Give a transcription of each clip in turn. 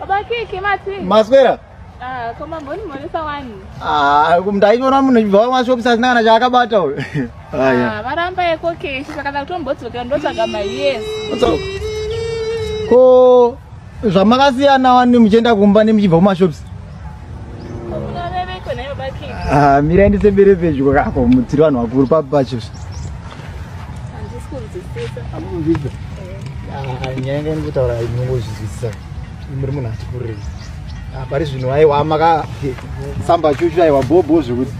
Baba Kiki mati. Maswera. Ah, koma mboni mwanisa wani. Ah, ndaiona munhu ibva wa shop sasina kana chakabata huyo. Ah, yeah. Ah, varamba yeko keshi pakada kutombodzoka ndotsvaga my yes. Ko zvamakasiyana wani muchienda kumba nemuchibva kuma shops. Ah, mira ndi sembere pedyo kako mutiri vanhu vakuru papi pacho amukunzvisa ah, nyaya yanga ndikutaura inongozvizwisisa muri munhu ati kurei ah, pari zvinhu aiwa maka samba chuchu aiwa bhobho zvekuti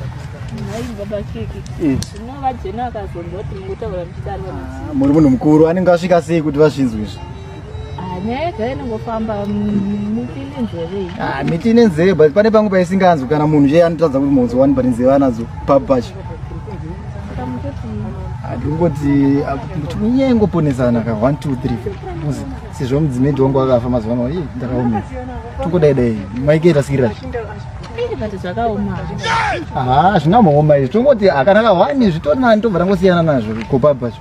muri munhu mukuru anenge asvika sei kuti vazvinzwi izvi Ah, nyaya yega inongofamba miti ine nzeve iyi Ah, miti ine nzeve but pane pamwe paisinganzwi kana munhu zve anotadza kuti munzwa wani but nzeve anadzo papi pacho saka mutoti Ah, ndiri kungoti ah, kuti nyaya ingoponesana ka one two three uzi sezvo mudzimedi wangu akafa mazuva ano ii ndakaomera tingodai dai maike rasikirira ii but zvakaoma haa hazvina maoma izvi tongoti akanaka wani zvitori nani tobva tangosiyana nazvo ko papi pacho